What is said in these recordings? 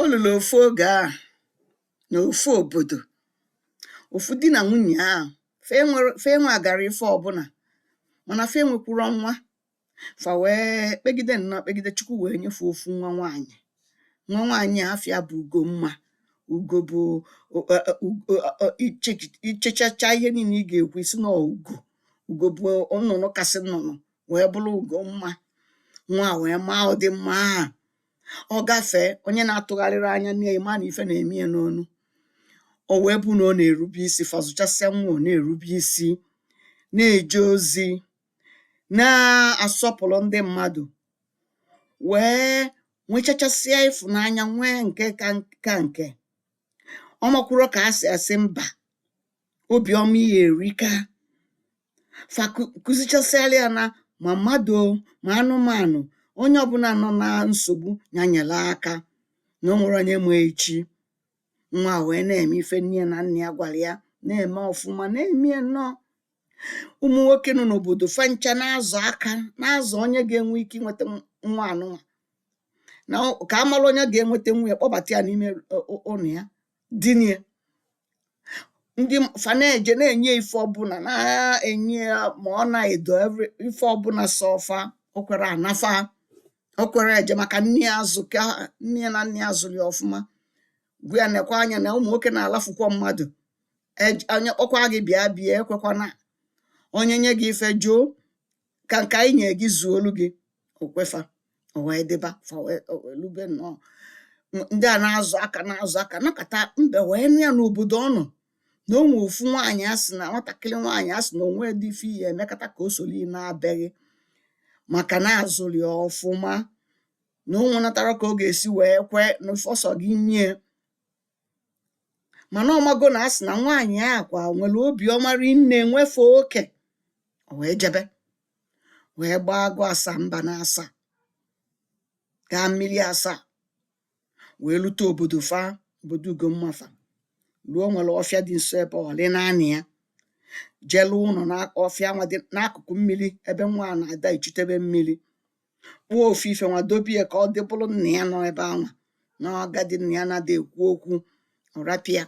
o lulu ofu oge ahụ na ofu obodo ofu di na nwunye ahụ fa nwere fa nwegara ife ọbụna mana fa enwekwurọ nwa fa wee kpegide nnọọ kpegide chukwu wee nye fa ofu nwa nwaanyị nwa nwaanyị a afa ya bụ ugomma ugo bụ o- e- e- ugo e- e- iche- ichechacha ihe niile ị ga-ekwu ị sị na ọ ugo ugo bụ nnụnụ kasị nnụnụ wee bụrụ ugomma nwa wee maa ụdị mma ahụ ọ gafee onye na-atụgharịrị anya mana ife na-eme ya nnọọ o wee bụ na ọ na-erube isi fa zụchasịa nwa ọ na-erube isi na-eje ozi na-asọpụrụ ndị mmadụ wee nwechachasịa ịfụnanya nwee nke ka nke ọ makwuru ka a sị asị mba obiọma ya erika fa kụ- kụzichasịara ya na ma mmadụ o, ma anụmanụ onye ọbụna nọ na nsogbu ya nyere aka na o nwerọ onye ma echi nwa a wee na-eme ife nne ya na nna ya gwara ya na-eme ọfụma na-eme ya nnọọ ụmụ nwoke nọ n'obodo fa ncha na-azọ aka na-azọ onye ga-enwe ike inweta nw- nwa anụnwa na ọ- ka a mara onye ga-enweta nwa ya kpọbata ya n'ime ụ- ụ- ụnọ ya dina ya ndị m- fa na-eje na-enye ya ife ọbụna na-enye ya ma ọna edo every- ife ọbụna sọ fa o kwerọ ana fa o kwerọ eje maka nne ya azụ ka ha- nne ya na nna ya zụrụ ya ọfụma gwa ya nekwa anya na ụmụ nwoke na-alafukwa mmadụ Ej- onye kpọkwa gị bịa bịa ekwekwana onye nye gị ife jụ ka nke anyị nyere gị zuolu gị o kwe fa o wee dịba fa wee o wee lube nnọọ M- ndị a na-azọ aka na-azọ aka nọkata mbe wee nụ ya n'obodo ọ nọ na o nwere ofu nwaanyị a sị na nwatakịrị nwaanyị a sị na o nwedị ife ị ya-emekata ka o soro ị naa be gị maka na a zụrụ ya ọfụma na o nwenatarọ ka ọ ga-esi wee kwee na ife ọ sọ gị nye mana ọ mago na a sị na nwaanyị a kwa nwere obiọma rinne nwefe oke o wee jebe wee gbaa agụ asa mba na-asa gaa mmiri asa wee lute obodo fa obodo Ugomma fa ruo o nwere ọfịa dị nso ebe ọ rị naanị ya je lụọ ụnọ na ọfịa nwa dị n'akụkụ mmiri ebe nwa a na-ada echutebe mmiri kpụọ ofu ife nwa dobe ya ka ọ dị bụrụ nna ya nọ ebe anwa na agadi nna ya na-adị ekwu okwu ọ rapụ ya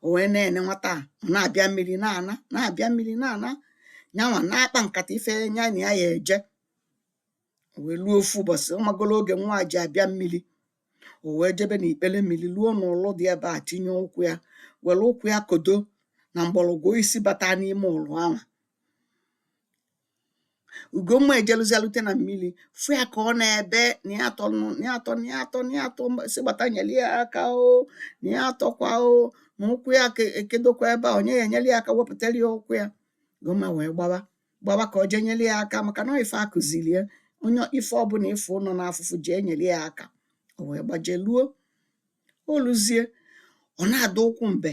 o wee na-ene nwata a ọ na-abịa mmiri na-ana na-abịa mmiri na-ana nyanwa na-akpa nkata ife nya na ya ya-eje o wee luo ofu ụbọchị ọ magolu oge nwa a ji abịa mmiri o wee jebe na ikpele mmiri luo n'ụlụ dị ebe a tinye ụkwụ ya were ụkwụ ya kodo na mgbọrọgwụ osisi bata n'ime ụlụ anwa Ugomma ejeluzie lute na mmili fụ ya ka ọ na-ebe na ya atọ nụ na ya atọ na ya atọ na ya atọ mba- sị gbata nyeli ya aka o na ya atọkwa o na ụkwụ ya ke- ekedokwa ebe a onye ya enyeli ya aka wepụtara ya ụkwụ ya Ugomma wee gbawa gbawa ka ọ jee nyeli ya aka maka na ọ ife a kụziri ya onye ife ọbụla ị fụ nọ n'afụfụ jee nyeli ya aka o wee gbaje luo o luzie ọ na-adọ ụkwụ mbe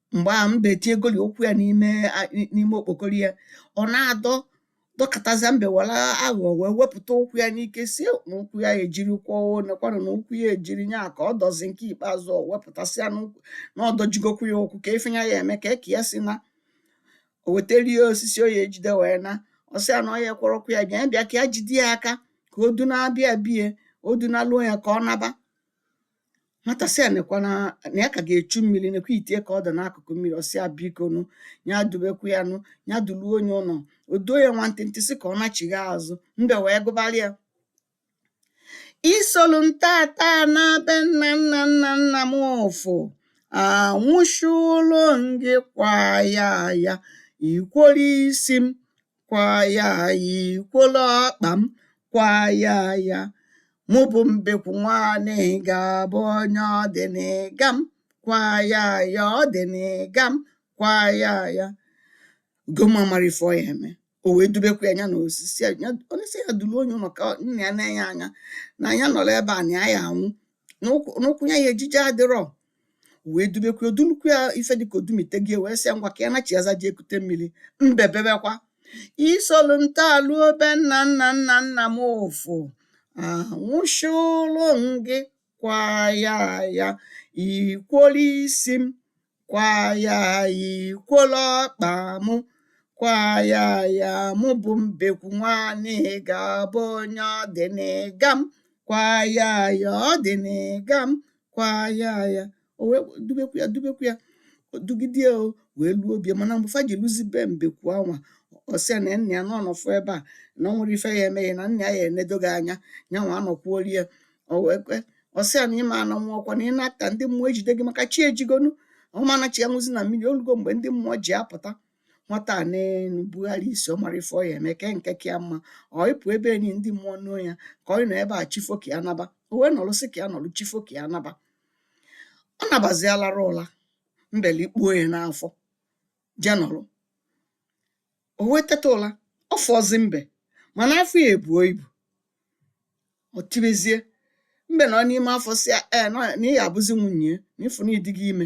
mgbe ahụ mbe tiegoli ụkwụ ya n'ime a- n'ime okpokoro ya ọ na-adọ dọkatazia mbe were aghụghọ wee wepụta ụkwụ ya n'ike sị na ụkwụ ya ejirikwa o nekwanụ na ụkwụ ya ejiri nya ka ọ dọzi nke ikpeazụ ọ wepụtasịa n'ụkwụ na ọ dọjigokwu ya ụkwụ kee ife nya ya eme kee ke ya si naa o wetara ya osisi o ya ejide wee naa ọ sị ya na ọ ya kwọrọ ụkwụ ya bịa bịa ka ya jide ya aka ka o dunaba ya be ya o dunaluo ya ka ọ naba Nwata sị ya nekwa na na ya ka ga-echu mmili nekwa ite ya ka ọ dị n'akụkụ mmili ọ sị ya bikonu ya dubekwu ya nụ ya duluo nya ụnọ o duo ya nwantịntị sị ka ọ nachigha azụ mbe wee gụbara ya isolu m tata naa be nna nna nna nna m ụfụ anwụchụlụ m gị kwa ya ya ikworo isi m kwa ya ikwolo ọkpa m kwa ya ya mụ bụ mbekwu nwa anịga bụ onye ọ dị n'ịga m kwa ya ya ọ dị n'ịga m kwa ya ya Ugomma amarọ ife ọ ya eme o wee dubekwu ya nya na osisi ya ya- ọ na-asị ya duluo nya ụnọ ka ọ- na ya nee nya anya na ya nọrọ ebe a na ya ya anwụ na ụkwụ na ụkwụ ya ya eji eje adịrọ wee dubekwu ya o dulukwu ya ife dịka o dumitego ya wee sị ya ngwa ka ya nachịa azụ jee kute mmili mbe bebekwa isolu m taa luo be nna nna nna nna m ụfụ anwụchụlụ m gị kwa ya ya ikwolu isi m kwa ya ya ikwolu ọkpa m kwa ya ya mụ bụ mbekwu nwa anịga bụ onye ọ dị n'ịga m kwa ya ya ọ dị n'ịga m kwa ya ya o wee dubekwu ya dubekwu ya dugide ya o wee luo be ya mana mgbe fa ji luzi be mbekwu anwa ọ sị ya na nna ya na ọ nọfụ ebe a na ọ nwerọ ife ya eme ya na nna ya ya enedo gị anya nyanwa anọkwuolu ya o wee kwe ọ sị ya na ị ma ana nwa ọkwa na ị naa taa ndị mmụọ ejide gị maka chi ejigonu ọ ma nachịa luzi na mmili o lugo mgbe ndị mmụọ ji apụta nwata a na-ebugharị isi ọ marọ ife ọ ya eme kee nke ka ya mma ọ ịpụ ebe enyi ndị mmụọ nuo ya ka ọ nọ ebe a chi foo ka ya naba o wee nọrọ sị ka ya nọrọ chi foo ka ya naba ọ nabazialara ụla mbe likpuo ya n'afọ jee nọrọ o wee teta ụla ọ fụrọzi mbe mana afọ ya ebuo ibu ọ tibezie mbe nọ n'ime afọ sị ya ee na na ị ya abụzi nwunye ya na ị fụ na ị dịgo ime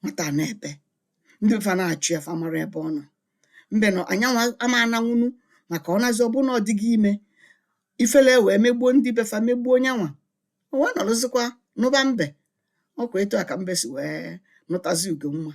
nwata a na-ebe ndị be fa na-achọ ya fa amarọ ebe ọ nọ mbe nọ nyanwa ama ananwu ụnọ maka ọ nazi ọ bụrụ na ọ dịgo ime ifele wee megbuo ndị be fa megbuo nyanwa o wee nọrọzikwa na be mbe ọkwa etu a ka mbe si wee nụtazi ugo nwa